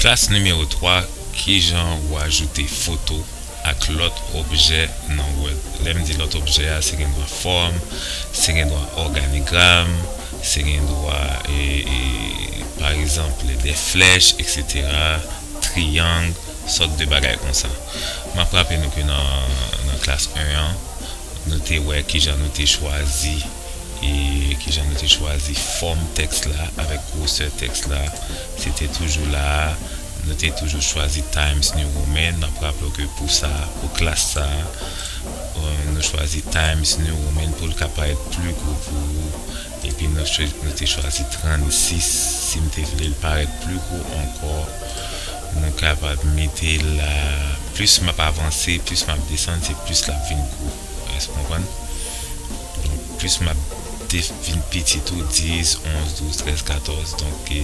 Klas nimewo 3, Kijan ou ajoute foto ak lòt objè nan Word? Lè m di lòt objè a, se gen dwa fòm, se gen dwa òganigram, se gen dwa, paregzanp, de flèch, eksetera. triyang, sòt de bagay konsa. M ap raple nou ke nan klas 1 an, nou te wè kijan nou te chwazi e kijan nou te chwazi fòm tèks la avèk gwosè tèks la. Se te toujou la a, nou te toujou chwazi Times New Roman. N ap raple w ke pou sa a, pou klas sa a, nou chwazi Times New Roman pou l ka parèt pli gwo pou ou. Epi m ap chwazi pou nou te chwazi 36 si m te vle l parèt pli gwo ankò nou kapab mete l la plis m ap avanse plis m ap desann se plis l ap vin gwo èske w konprann donk plis m ap vin piti tou 10 11 12 13 14 donk e.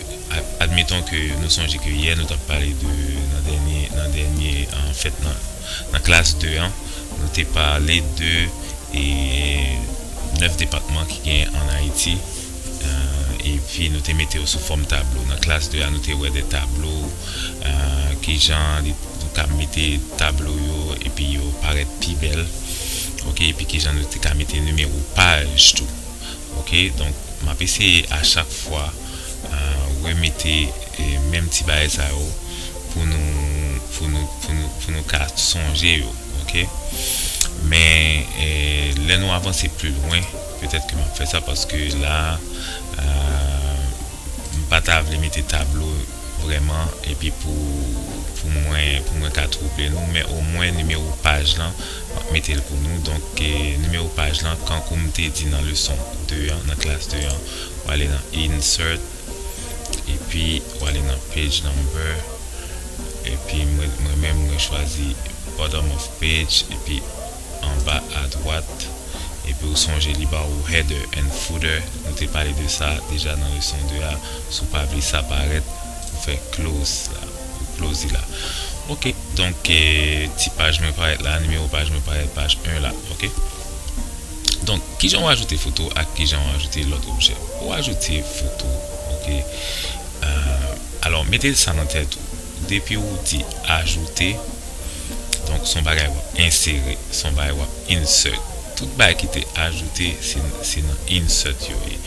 Admeton ke nou sonje ke yè nou t ap pale de nan dènye nan dènye fèt nan nan klas de an nou te pale de e 9 depatman ki genyen an Ayiti epi nou te mete yo sou fòm tablo nan klas de a nou te wè de tablo kijan li nou ka mete tablo yo epi yo parèt pi bèl ok epi kijan nou te ka mete nimewo paj tou. Ok donk map eseye a chak fwa remete menm ti bagay sa yo pou nou pou nou pou nou pou nou ka sonje yo ok men lè nou avanse pli lwen petèt ke map fè sa paske la m pa ta vle mete tablo vrèman epi pou pou mwen pou mwen ka twouble nou men omwen nimewo paj lan Map mete l pou nou. Donk nimewo paj lan kankou m te di nan leson 2 an, nan klas 2 an, w ale nan Insert epi w ale nan Page Number epi mwen menm mwen chwazi Bottom of Page epi anba adwat epi ou sonje li ba ou Header and Footer nou te pale de sa deja nan leson 2 a, si w pa vle sa parèt ou fè Close la. Plozy la ok donk ti paj mwen parèt la nimewo paj mwen parèt paj 1 la ok donk kijan ou ajoute foto ak kijan ou ajoute lòt objè ou ajoute foto ok alò mete sa nan tèt ou depi ou di ajoute donk son bagay wap ensere son bagay wap insert tout bagay ki te ajoute se nan insert yo ye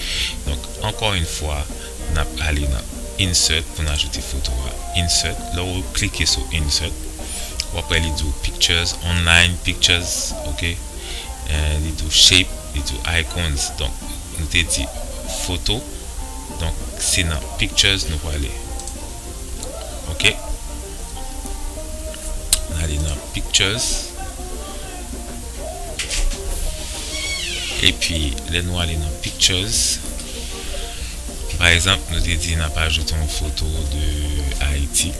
donk ankò yn fwa N ap ale nan Insert pou n ajoute foto a. Insert, Lè w klike sou Insert, w ap wè li di w Pictures, Online, Pictures, ok. Li di w Shape, li di w Icons. Donk, nou te di Foto. Donk, se nan Pictures nou prale. Ok. N ale nan Pictures. Epi, lè nou ale nan Pictures. Pa egzanp nou te di n ap ajoute yon foto de Ayiti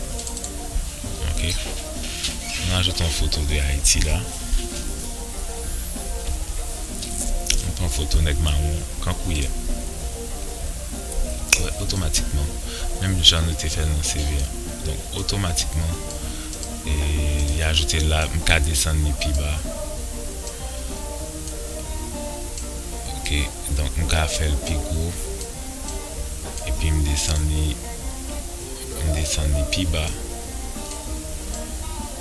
ok nou ajoute yon foto de Ayiti la nou pran foto nèg mawon an kankouyè wè otomatikman menm jan nou te fè l nan CV a donk otomatikman li ajoute l la m ka desann li pi ba ok. Donk m ka fè l pi gwo epi m desann li, m desann li pi ba,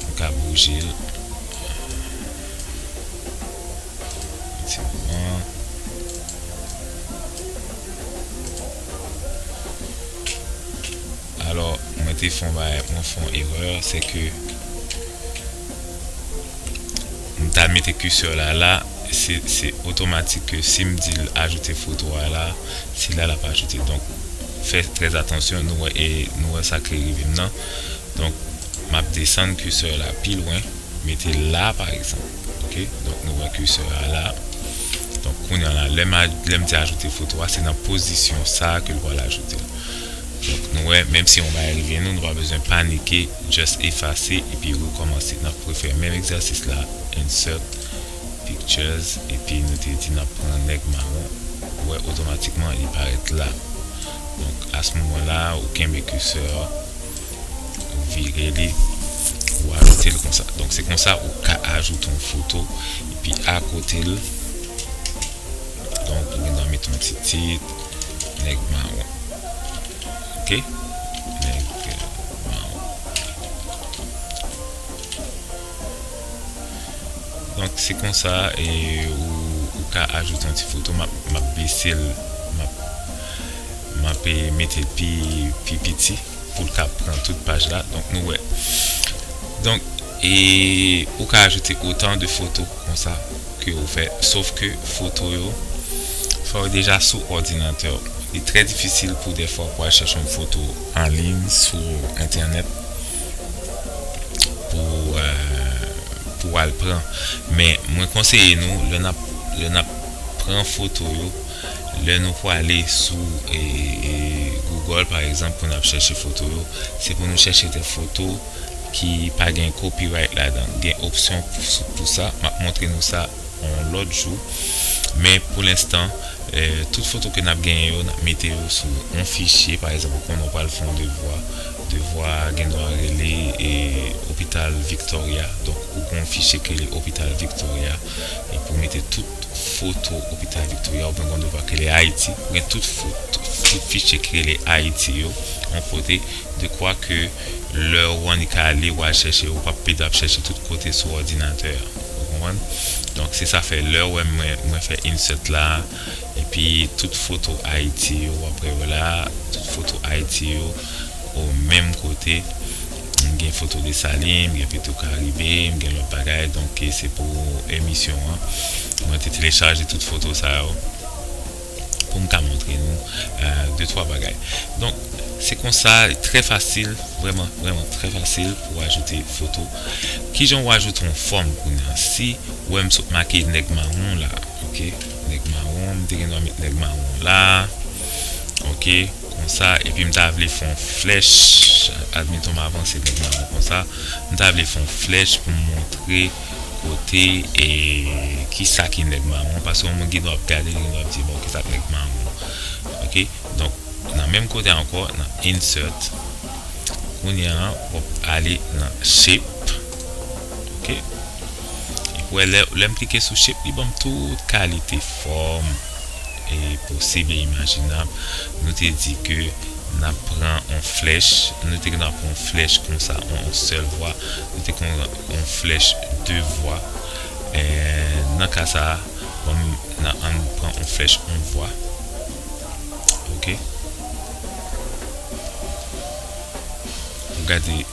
m ka bouje l yon ti moman. Alò mwen te fè yon bagay, mwen fè yon erè se ke. M ta mete curseur la la se se otomatik ke sim dil ajoute foto a la se la lap ajoute donk fè trè atansyon nou wè e nou wè sak li rivem nan donk map desann curseur la pi lwen metel la pa egzanp ok donk nou wè curseur a la donk kounya la lèm lèm di ajoute foto a se nan pozisyon sa ke l pwal ajoutel. Nou wè menm si yon bagay rive nou, nou pa bezwen panike just efase epi rekòmanse nap refè menm egzèsis la insert pictures epi nou te di nap pran nèg mawon ou wè otomatikman li parèt la donk as moman la ou kenbe cursor a ou vire li ou ajoutel konsa donk se konsa ou ka ajoute yon foto epi akotel. Donk ou gen dwa met yon ti tit nèg mawon ok nèg mawon donk se konsa ou ka ajoute yon ti foto map bese l map mete l pi piti. Pou l ka pran tout paj la. Donk nou wè. Donk e ou ka ajoute otan de foto konsa ke ou fè. Sof ke foto yo fò yo deja sou òdinatè w. Li trè difisil pou dèfwa pou al chèche yon foto an liyn sou entènèt pou pou al pran. Men mwen konseye nou lè n ap lè n ap pran foto yo. Lè nou pwale sou Google pa egzanp pou nap chèche foto yo, se pou nou chèche de foto ki pa gen copyright ladan l. Gen opsyon pou sa, map montre nou sa yon lòt jou. Men pou lenstan, tout foto ke nap genyen yo, nap mete yo sou yon fichye. Pa egzanp, ou konnen ou pral fè yon devwa, devwa a gen dwa rele Hopital Victoria. Donk ou gen yon fichye ki rele Hopital Victoria, epi ou mete tout. Foto, Opital Victoria ouvè yon devwa ki rele Ayiti. Ou gen tout foto, tout fichye ki rele Ayiti yo yon kote, dekwa ke lè ou annik ka ale, ou al chèche, ou pap pèdi ap chèche tout kote sou òdinatè a. Ou konprann? Donk, se sa fè lè ou wè mwen, mwen fè insert la, epi tout foto Ayiti yo, ou ap wè yo la, tout foto Ayiti yo o menm kote. M gen foto Desalin, m gen pito Karibe, m gen lòt bagay donk e se pou emisyon an mwen te telechaje tout foto sa yo pou m ka montre nou de twa bagay donk se konsa li trè fasil vrèman vrèman trè fasil pou ajoute foto kijan ou ajoute yon fòm kounye a si ou wè m sot make nèg mawon la ok nèg mawon m te gen dwa met nèg mawon la ok. Konsa, epi m ta vle fè yon flèch, admettons m avanse nan Diamond konsa, m ta vle fè yon flèch pou m montre kote, e, kisa ki nèg mawon, paske yon moun gen dwa ap gade li, gen dwa ap di, bon, kisa k nèg mawon. Ok, donk, nan menm kote a ankò, nan Insert, kounye a, w ap ale nan Shape, ok. Ou wè lè lèm klike sou shape li banm tout kalite fòm e posib e imajinab nou te di ke nap pran on flèch nou te gentan pran on flèch konsa on sèl vwa nou te konn on flèch de vwa nan ka sa banm nan ann pran on flèch on vwa ok ou gade.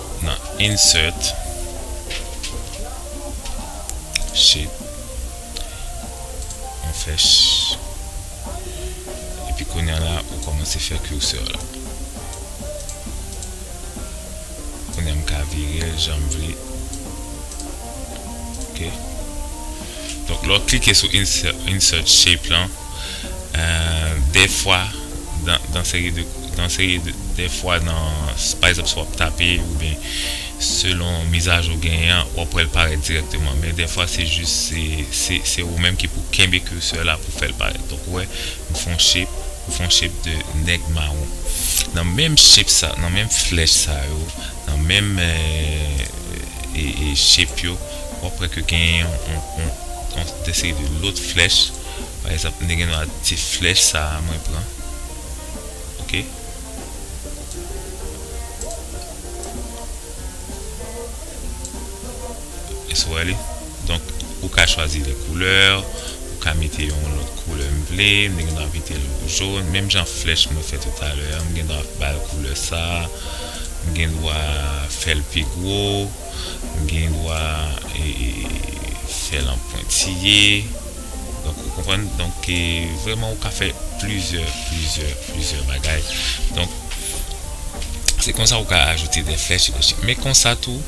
nan Insert Shape on fè epi kounya la ou kòmanse fè cursor la kounya m ka virel janm vle. Donk lè w klike sou insert shape lan dèfwa nan seri de nan seri de dèfwa nan pa egzanp si w ap tape oubyen selon mizajou w genyen an w ap wè l parèt dirèkteman men dèfwa se jis se se ou menm ki pou kenbe cursor la pou fè l parèt donk ou wè m fè yon shape m fè yon shape de nèg mawon nan menm shape sa nan menm flèch sa yo Nan menm shape yo wap wè ke gen yon deseri de lòt flèch pa egzanp mwen te gen dwa di flèch sa mwen pran ok Èske w wè li? Donk, ou ka chwazi lè koulè, ou ka mete yon lòt koulè m vle, m te gendwa mete l jon, menm jan flèch mwen fè toutale an, m gendwa ba l koulè sa a, m gendwa fè l pi gwo, m gendwa fè l an pwentiye. Donk, ou konprann? Donk, vrèman ou ka fè plizyè, plizyè, plizyè bagay. Donk, se konsa ou ka ajoute de flèch, men konsa tou.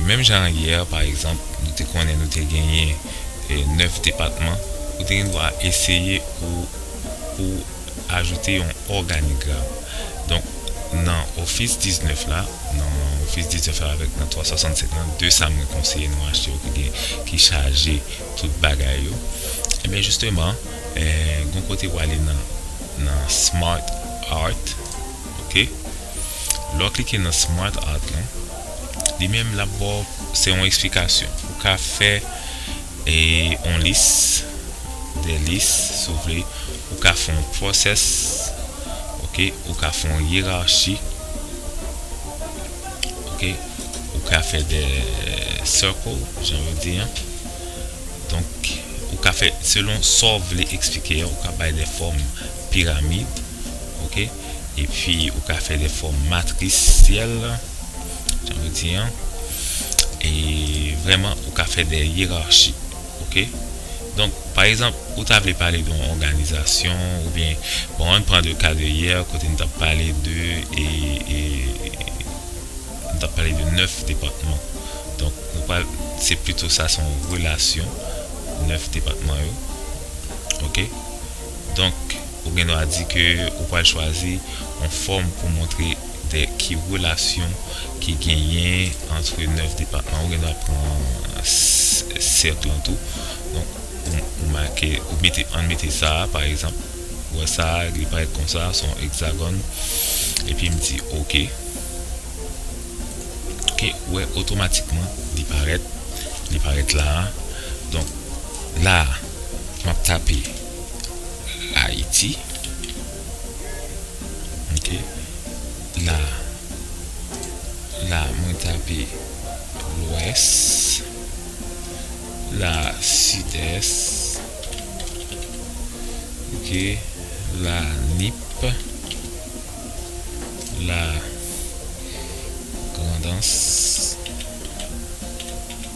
Menm jan ak yè, pa egzanp, nou te konnen nou te genyen 9 depatman, ou te gen dwa eseye pou w ajoute yon òganigram. Donk, nan ofis 19 la, nan ofis 19 la avèk nan 365 lan, 2 sa mwen konseye nou achte yo ki chaje tout bagay yo, enben jisteman, gen yon kote pou w ale nan Smart Art. ok lè w klike nan smart art lan li menm lap baw se yon esplikasyon ou ka fè yon lis de lis si w vle ou ka fè yon process ok ou ka fè yon yerachi ok ou ka fè de circle jan yo di an donk ou ka fè selon sa w vle eksplike a ou ka bay de fòm piramid ok epi ou ka fè lèfò matrisyèl jan nou di an e vrèman ou ka fè dè yerachi ok donk pa egzanp ou ta vle pale don òganizasyon oubyen bon ann pran de ka de yè kote nou tap pale de e e nou tap pale de 9 depatman donk nou pral se pito sa son relasyon 9 depatman yo ok. Donk, ou gen dwa di ke ou pral chwazi yon fòm pou montre de ki relasyon ki genyen antre 9 depatman. Ou gen dwa pran sèk lan tou. Donk, ou make, ou mete, ann mete sa a, pa egzanp, ou wè sa a, li parèt kon sa, son egzagòn. Epi m di oke. Oke, ou wè, otomatikman, li parèt, li parèt la a. Donk, la a. Map tape Haiti ok la la mwen tape lwès la sidès ok la nip la grandans.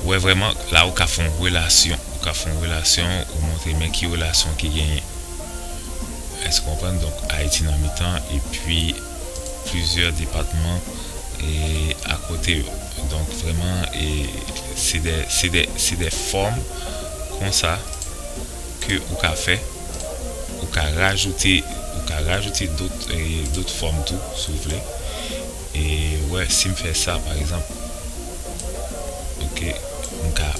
Ou wè vrèman la ou ka fon relasyon ou ka fon relasyon ou montre men ki relasyon ki genyen èske ou konprann donk ayiti nan mitan epi plizyè depatman e akote yo donk vrèman e se de se de se de fòm konsa ke ou ka fè ou ka rajoute ou ka rajoute dot e dot fòm tou si ou vle e ou wè sim fè sa pa egzanp. pou ke m ka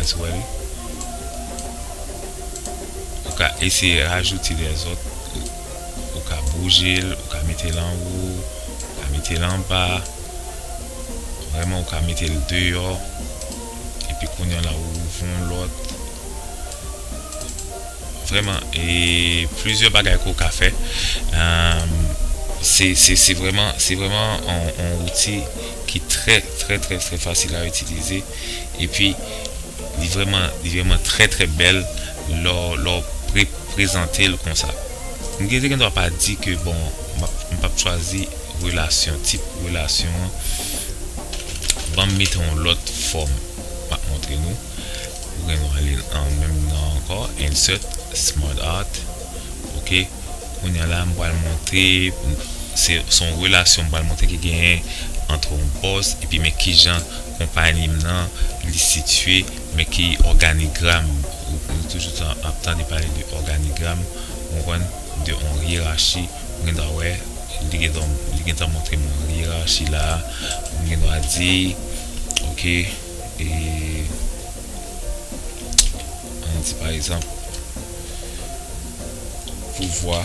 èske w wè li ou ka eseye rajouti lèzòt ou ka bouje l ou ka mete l anwo ou ka mete l anba vrèman ou ka mete l deyò epi kounye w la ou ouvri yon lòt Vrèman e plizyè bagay ke w ka fè se vrèman se vrèman on outi ki trè trè trè trè fasil a itilize epi li vrèman li vrèman trè trè bèl lè w lè w prezante l konsa m gen te gen dwa pa di ke bon m pap chwazi relasyon tip relasyon an banm mete on lòt fòm m ap montre nou. Ou gen dwa li l an menm nan an ankò, Insert, Smart Art, ok. Kounye a la m pral montre pou n, se se yon relasyon m pral montre ki genyen antre yon pòs epi men ki jan konpayi m nan li sitye, men ki òganigram, nou toujou ta ap tande pale de òganigram, ou konprann, de yon yerachi, ou gen dwa wè li gen tan, li gen tan montre m yon yerachi la a, m gen dwa di, ok. E ann di pa egzanp pouvwa,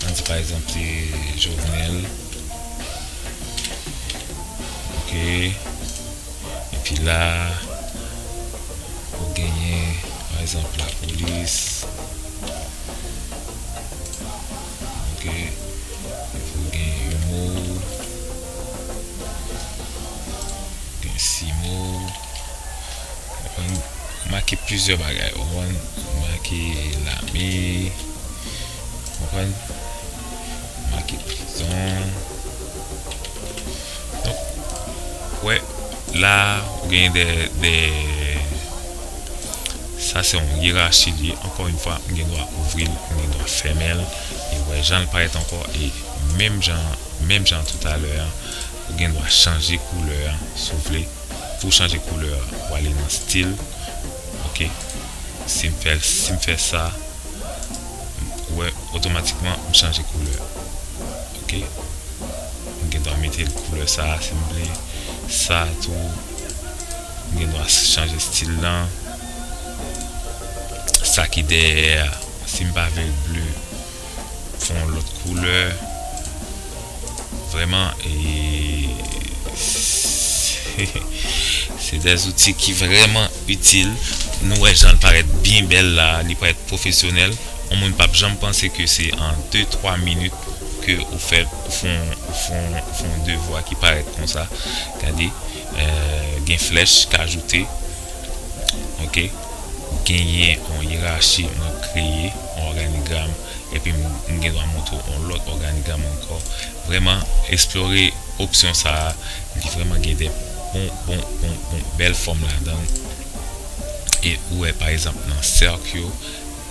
ann di pa egzanp se Jovenel ok epi la ou genyen pa egzanp lapolis. Ok il faut gen yon mot gen six mots on make plusieurs bagay ou konprann make lame ou konprann make prison Donk, ou wè, la a, ou genyen dè, dè, sa se yon yerachi li ye, ankò yon fwa, m gen dwa ouvri l, m gen dwa fèmen l, e ou wè jan l parèt ankò, e menm jan an, menm jan toutalè an, ou gen dwa chanje koulè a, si w vle, pou w chanje koulè a, ou ale nan stil, ok, si m fè l, si m fè sa, ou wè, otomatikman, m chanje koulè. ok m gendwa metel koulè sa sim vle sa tou m gendwa chanje stil lan sa ki dèyè a sim pa vlel ble fon yon lòt koulè vrèman e se de zouti ki vrèman itil nou wè janl parèt byen bèl la li parèt pwofesyonèl yon moun pap janm panse ke se an de twa minit. ke ou fè ou fon ou fon ou fon devwa ki parèt konsa gade gen flèch k ajoute ok genyen yon yerachi mwen kreye yon òganigram epi m gen dwa montre w yon lòt òganigram ankò vrèman esplore opsyon sa li vrèman gen de bon bon bon bon bèl fòm ladan l e ou wè pa egzanp nan sèk yo.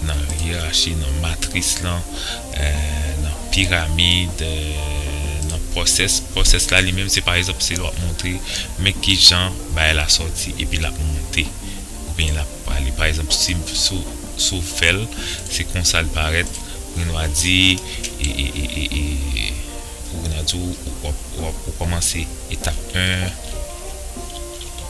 Nan yerachi, nan matris lan, nan piramid, nan pwosès. Pwosès la li menm se pa egzanp se lè w ap montre men ki jan bagay la sòti epi l ap monte oubyen l ap ale. Pa egzanp si si w fè l se konsa l parèt pou nou a di pou nou a di w ou kòmanse etap 1.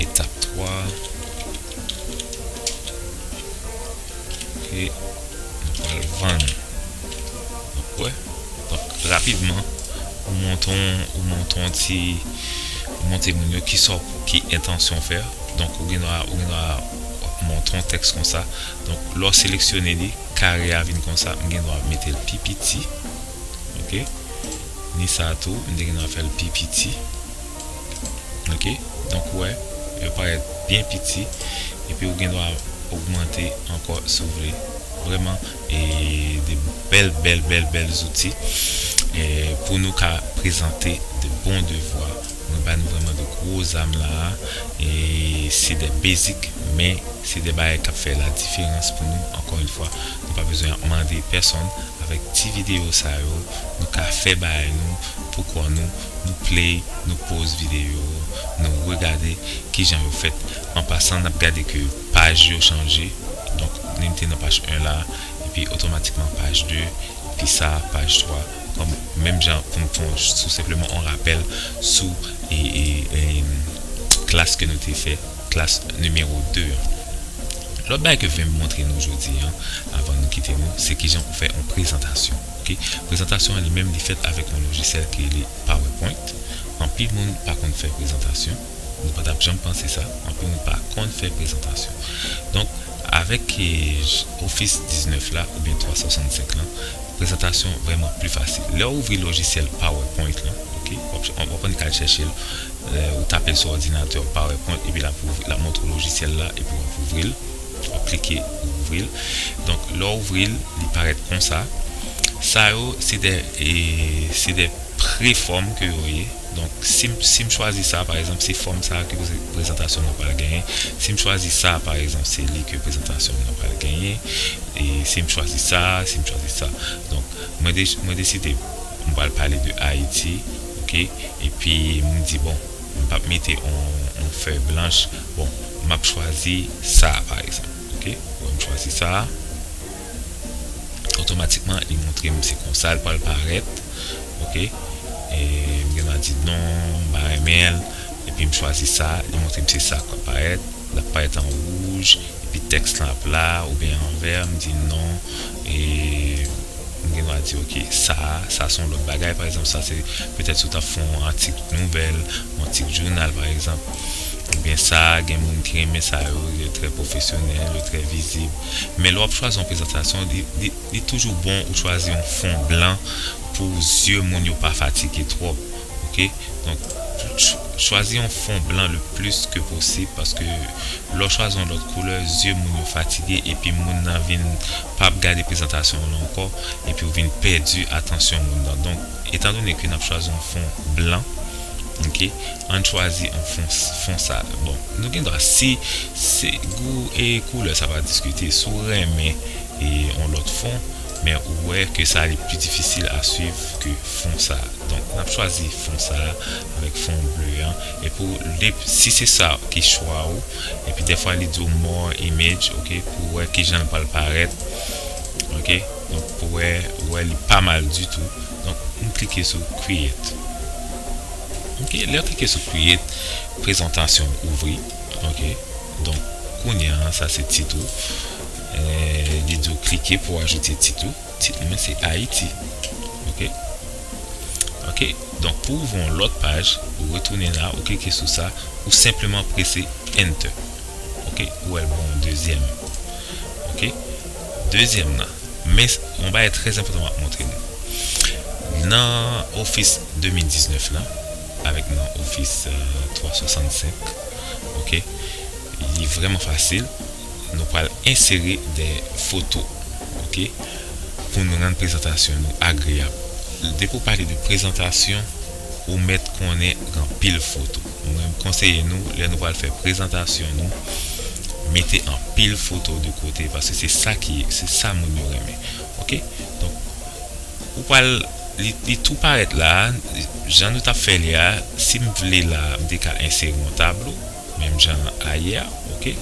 Etap 3 Ke nou pral vann Ou wè Donk rapidman ou montre ou montre yon ti Ou montre moun yo kisa w ki entansyon w fè a Donk ou gendwa ou gendwa w ap montre yon tèks konsa Donk lè w seleksyone li kare a vin konsa m gendwa mete l pi piti Ok Ni sa tou m te gen dwa fè l pi piti. Ok. Donk ou wè, yo parèt byen piti. Epi ou gen dwa ogmante ankò si w vle. Vrèman e 2 bèl bèl bèl bèl zouti pou nou ka prezante de bon devwa. Mwen ba nou vrèman de gwo zam la a. E se de basic men se de bagay k ap fè ladiferans pou nou. Ankò yon fwa, nou pa bezwen ap mande pèsonn. Avèk ti videyo sa yo nou ka fè bagay nou pou kò nou, nou play, nou pause videyo, nou regade kijan yo fèt, an pasan nap gade ke paj yo chanje, donk li mete nan paj 1 la epi otomatikman paj 2 epi sa paj 3 kòm menm jan pou nou fè yon tou senpleman yon rapèl sou klas ke nou te fè. Klas nimewo 2 an. Lòt bagay ke vlem montre nou jodi an avan nou kite nou se kijan pou fè yon prezantasyon ok prezantasyon an li menm li fèt avèk yon lojisyèl ki rele powerpoint anpil moun pa konn fè prezantasyon nou pa tap janm panse sa anpil moun pa konn fè prezantasyon donk avèk office 19 la oubyen 365 lan prezantasyon vrèman pli fasil lèw ouvri lojisyèl powerpoint lan ok wap konn al chèchel. Lè ou tape l sou òdinatè w, PowerPoint, epi l ap ouvri, l ap montre w lojisyèl la epi w ap ouvri l. W ap klike, ou ouvri l. Donk, lè w ouvri l, li parèt konsa. Sa yo, se de, se de pre-fòm ke yo ye. Donk, si m, si m chwazi sa, pa egzanp, se fòm sa a ke prezantasyon m nan pral genyen. Si m chwazi sa, pa egzanp, se li ke prezantasyon m nan pral genyen. E si m chwazi sa, si m chwazi sa. Donk, mwen de, mwen deside m pral pale de Ayiti. ok epi m di bon m pap mete on fèy blanch bon map chwazi sa pa egzanp ok wè m chwazi sa otomatikman li montre m se konsa l pral parèt ok m gen dwa di non m pa renmen l epi m chwazi sa li montre m se sa kap parèt lap parèt an wouj. Epi tèks lan ap la oubyen anvè, m di non e m gen dwa di ok sa a, sa se yon lòt bagay. Pa egzanp, sa se petèt si w t ap fè yon atik nouvèl, yon atik jounal pa egzanp. Oubyen sa a gen moun ki renmen sa yo, yo trè pwofesyonèl, yo trè vizib. Men lè w ap chwazi yon prezantasyon, li, li, li toujou bon ou chwazi yon fon blan pou zye moun yo pa fatige twòp. ok donk chwazi yon fon blan le plis ke posib paske lèw chwazi yon lòt koulè zye moun yo fatige epi moun nan vin pa ap gade prezantasyon w lan ankò epiw vin pèdi atansyon moun nan donk etan done ke nap chwazi yon fon blan ok ann chwazi yon fon fon sa bon nou gen dwa si gou e koulè sa pa diskite si w renmen yon lòt fon. Men ou wè ke sa li pi difisil a swiv ke fon sa. Donk nap chwazi fon sa avèk fon ble an epi ou dep si se sa ki chwa ou epi dèfwa li diw more image ok pou wè kijanl pral parèt ok donk pou wè ou wè li pa mal ditou donk nou klike sou create ok lèw klike sou create prezantasyonw ouvri ok donk kounya sa se tit ou. Li di w klike pou w ajoute tit ou. Tit mwen se Ayiti. Ok. Ok. Donk pou ouvri yon lòt paj, ou retounen la, ou klike sou sa, ou senpleman prese Enter. Ok. Ou wè l ban w yon dezyèm. Ok. Dezyèm nan. Men, yon bagay trè enpòtan m ap montre nou. Nan Office 2019 la, avèk nan Office 365, ok, li vrèman fasil. nou pral ensere dè foto ok pou nou rann prezantasyon nou agreyab depi ou pale de prezantasyon ou mèt konnen gen anpil foto mwen konseye nou lè nou pral fè prezantasyon nou mete anpil foto de kote paske se sa ki se sa moun yo renmen ok donk ou pral li tou parèt la jan nou tap fè li a sim vle la mte ka ensere yon tablo. Menm jan a ye a ok.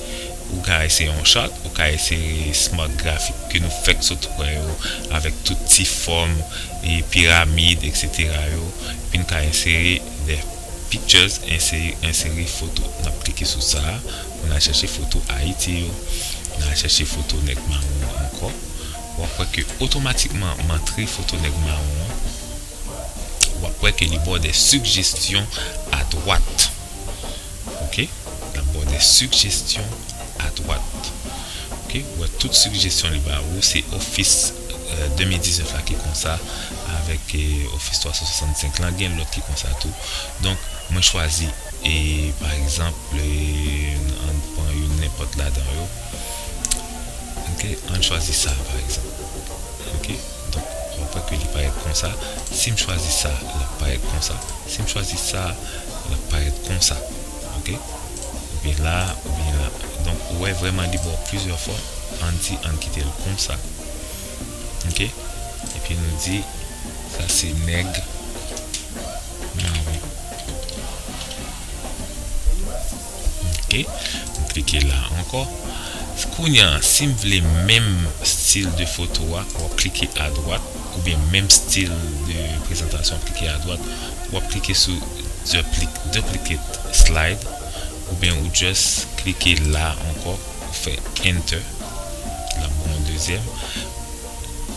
Ou ka eseye yon chart, ou ka eseye smart graphic ke nou fèk sot wè yo avèk tout ti fòm e piramid etc yo epi nou ka ensere the pictures eseye ensere foto nap klike sou sa pou nal chèche foto ayiti yo nal chèche foto nèg mawon an ankò wap wè ke otomatikman mantre foto nèg mawon an wap wè ke li baw de sigjestyon adwat. ok lap baw de sigjestyon adwat ok ou wè tout sigjestyon li ba ou se ofis 2019 la ki konsa avèk ofis 365 lan gen lòt ki konsa tou donk mwen chwazi e pa egzanp ann pran youn nenpòt ladan yo ann chwazi sa pa egzanp ok. Donk, mwen pè ke li parèt konsa. Si m chwazi sa, l ap parèt konsa. Si m chwazi sa, l ap parèt konsa. Ok. Ou vin la, ou vin la. Donk, ou wè vrèman li ba w plizyè fòm. An n di, an n kite l konsa. Ok. Epi nou di, sa se nèg mawon. ok m klike la ankò kounya sim vle menm stil de foto a wap klike adwat oubyen menm stil de prezantasyon wap klike adwat wap klike sou duplicate slide oubyen ou just klike la ankò ou fè enter lap baw yon dezyèm.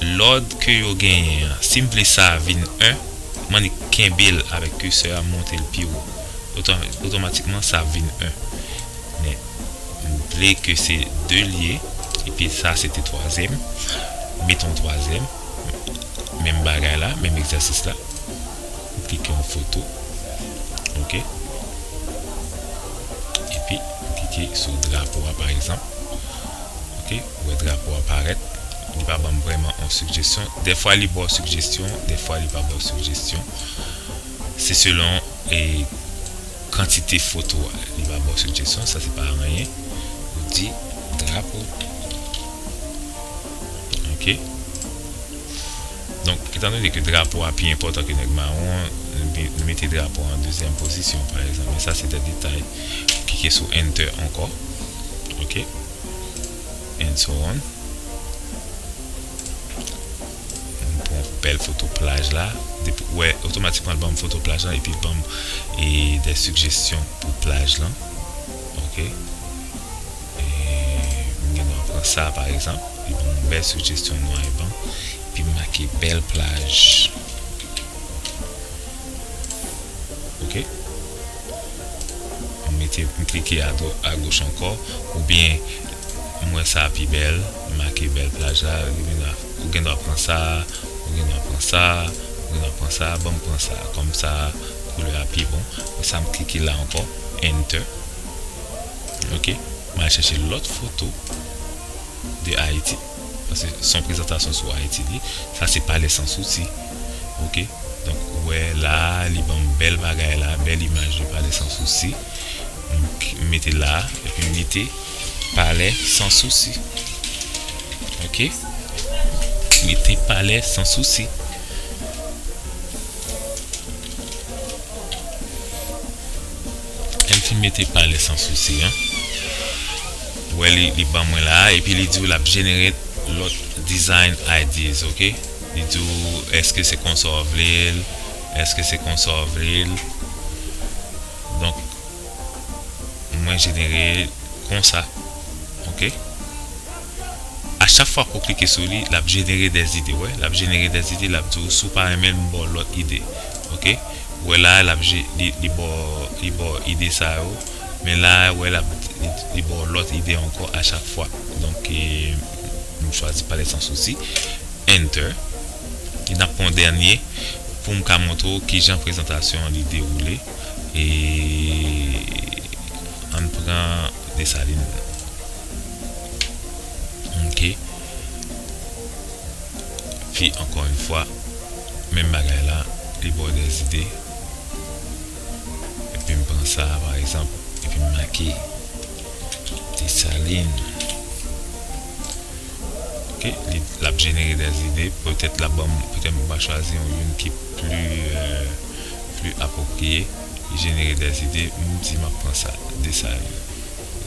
Lòd ke yo genyen an, si m vle sa a vin 1, m annik kenbe l avèk curseur a m monte l pi wo, otomatikman sa ap vin 1. Men, m vle ke se 2 l ye, epi sa se te twazyèm, m mete yon twazyèm, menm bagay la, menm egzèsis la, m klike yon foto, ok, epi m klike sou drapo a pa egzanp, ok. Ou wè drapo a parèt, li pa banm vrèman on sigjestyon. Dèfwa li baw sigjestyon, dèfwa li pa baw sigjestyon. Se selon e kantite foto a. Li va baw sigjestyon, sa se pa anyen. Ou di drapo. Ok. Donk, etan done ke drapo a pi enpòtan ke nèg mawon an, nou mete drapo a an dezyèm pozisyon, pa egzanp. Men sa se de detay. Ou klike sou enter ankò. Ok. and so on m pran yon bèl foto plaj la depi ou wè otomatikman l banm foto plaj lan epi l banm e dè sigestyon pou plaj lan ok m gen dwa pran sa pa egzanp li banm yon bèl sigestyon nwa e ban epi m make bèl plaj ok. M mete m klike agoch ankò oubyen m wè sa pi bèl m make bèl plaj la ou gendwa pran sa ou gendwa pran sa ou gendwa pran sa ban m pran sa kòm sa koulè a pi bon e sa m klike la ankò enter ok m al chèche lòt foto de Ayiti. Paske son prezantasyon sou Ayiti li sa se pale san sousi ok donk ou wè la li banm bèl bagay la bèl imaj de pale san sousi m mete la epi m mete pale san sousi ok mete pale san sousi. Lèm fin mete pale san sousi an. Ou wè li li ban mwen la a epi li di w l ap generate lòt design ideas ok li di w èske se konsa w vle l èske se konsa w vle l donk mwen jenere konsa ok a chak fwa ke w klike sou li l ap jenere dè ide w wè l ap jenere dè ide l ap di w si w pa renmen l m ba w lòt ide ok ou wè la a l ap li ba w li ba w ide sa yo. Men la a wè lap li baw lòt ide ankò a chak fwa donk m chwazi pale san sousi Enter e nap pran yon dènye poum ka montre w kijan prezantasyon an li dewoule e ann pran Desalin ok fi ankò yon fwa menm bagay la li baw dèzide. Epi m pran sa a pa egzanp, epi m make Desalin. Ok, li, l ap jenere dè ide. Petèt l ap ban m, petèt m va chwazi yon youn ki pli, pli apwopriye. Li jenere dè ide. M di m ap pran sa a, Desalin.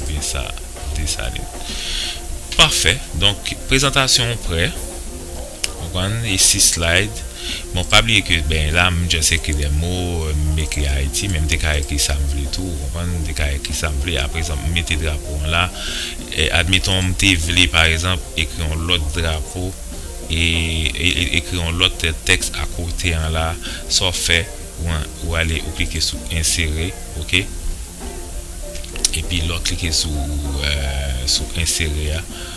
Oubyen sa a, Desalin. Pafè! Donk, prezantasyon w prè. Konprann e si slide bon pa bliye ke beny la m just ekri de mo m ekri ayiti men m te ka ekri sa m vle tou ou konprann m te ka ekri sa m vle aprezanp m mete drapo an la admeton m te vle pa ezanp ekri yon lòt drapo e ekri yon lòt tèks a kote an la sa w fè ou ale ou klike sou ensere ok epi lè w klike sou ensere a.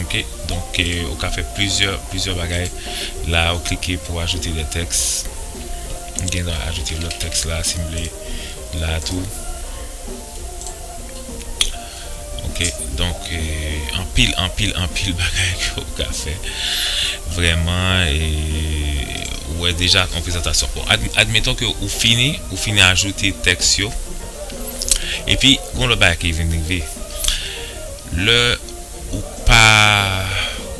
Ok donk ou ka fè plizyè plizyè bagay la ou klike pou ajoute de tèks m gen dwa ajoute lòt tèks la si m vle la tou ok donk anpil anpil anpil bagay ke ou ka fè vrèman e ou wè deja yon prezantasyon bon admeton ke ou fini ou fini ajoute tèks yo epi gon lòt bagay ki vin rive Lè ou pa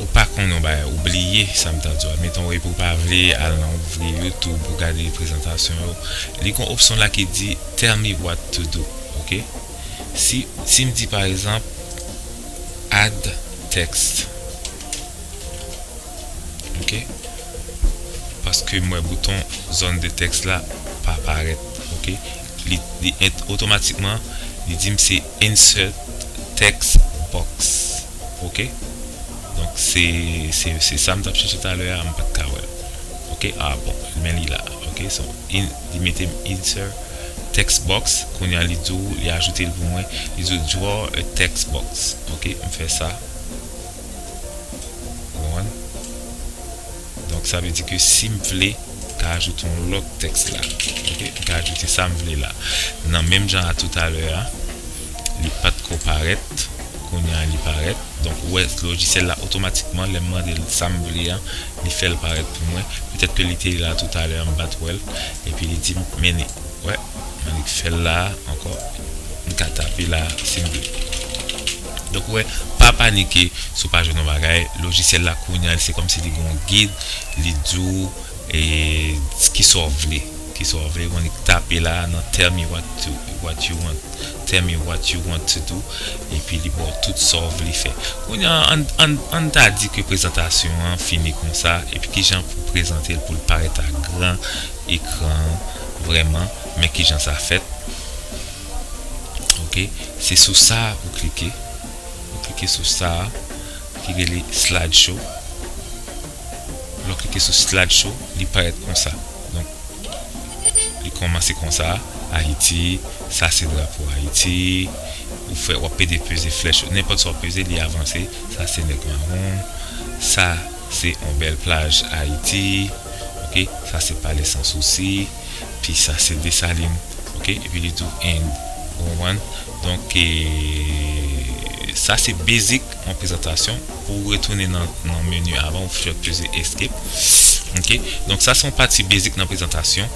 ou pa konn yon bagay ou bliye sam ta diw la metonw epi ou pa vle al nan ouvri youtube ou gade prezantasyon yo li gon opsyon la ki di tell me what to do ok si sim di pa egzanp add text ok paske m wè bouton zòn de text la pa parèt ok. li et otomatikman li dim se insert text box ok donk se se sam tap chèche talè a mpat ka wèl ok a bon men li la ok so li metem insert text box kounya li diw li ajoutel pou mwen li diw draw a text box ok mfè sa. Ou konprann? Donk sa vle di ke si m vle, m ka ajoute yon lòt tèks la. Ok? M ka ajoute sa m vle la. Nan menm jan a toutalè a, li pa t ko parèt, kounye a li parèt. Donk ou wè lojisyèl la otomatikman lè m mande l sa m vle an, li fè l parèt pou mwen. Petèt ke li te la toutalè an, m pa t wè l. Epi li di m meni. Ou wè? Mwen li k fè l la a ankò. M ka tape la a si m vle. Donk ou wè, pa panike si w pa jwenn yon bagay, lojisyèl la kounye a se kòmsi li gen yon gid, li di w ki sa w vle, ki sa w vle, ou annik tape la nan tell me what you want, tell me what you want to do epi li ba w tout sa w vle fè. Kounye a ann ta di ke prezantasyon an fini konsa epi kijan pou w prezante l pou l parèt a gran ekran an vrèman, men kijan sa fèt. ok se sou sa ou klike ou klike sou sa ki rele slide show lè w klike sou slide show li parèt konsa donk li kòmanse konsa ayiti sa se drapo ayiti ou fè wap pede peze flèch yo nenpòt sa w peze li avanse sa se nèg mawon sa Se on bèl plaj Ayiti ok sa se pale san sousi pi sa se Desalin ok epi li tou End ou konprann donk sa se basic on prezantasyon pou ou retounen nan menu avan ou fè peze escape ok donk sa se on pati basic nan prezantasyon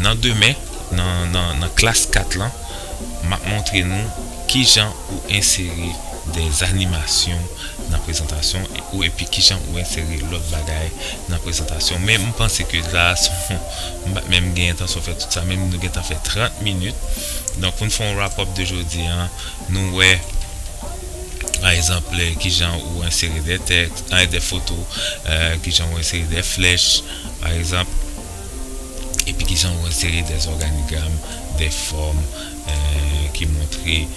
nan demen nan klas 4 lan map montre nou kijan ou ensere des animasyon. nan prezantasyon ou epi kijan ou ensere lòt bagay nan prezantasyon men m panse ke sa a son m pat menm gen entansyon fè tout sa men nou gentan fè 30 minit donk pou n fè yon wrap up de jodi a nou wè pa egzanp kijan ou ensere de tèks ay de foto kijan ou ensere de flèch pa egzanp epi kijan ou ensere de zòganigram de fòm ki montre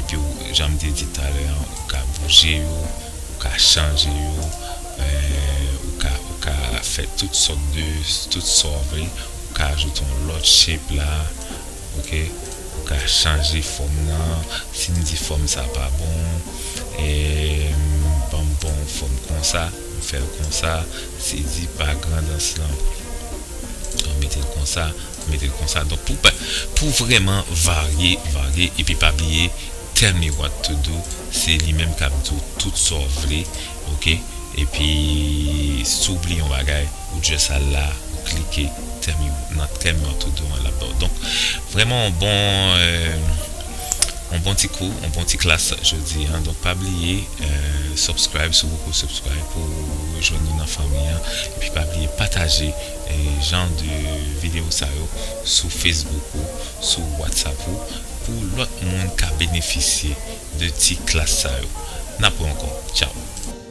Epi ou jan m te di talè an ou ka bouje yo, ou ka chanje yo, ou ka ou ka fè tout sòt de tout sa w vle, ou ka ajoute yon lòt shape la ok, ou ka chanje fòm nan, si m di fòm sa pa bon ban m bon fòm konsa m fè l konsa, si di pa grandans lan mete l konsa. mete l konsa donk pou pou vrèman varye varye epi pa bliye tell me what to do se li menm kap di w tout sa w vle ok epi si w bliye yon bagay ou just al la ou klike tell me nan tell me what to do an lap ba w donk vrèman yon bon yon bon ti kou yon bon ti klas jodi an donk pa bliye subscribe si w poko subscribe pou w jwenn nou nan fanmi an epi pa bliye pataje. jan de video sa yo sou Facebook ou sou WhatsApp ou pou lòt moun ka benefisye de ti klas sa yo. N ap wè ankò. Tchaw!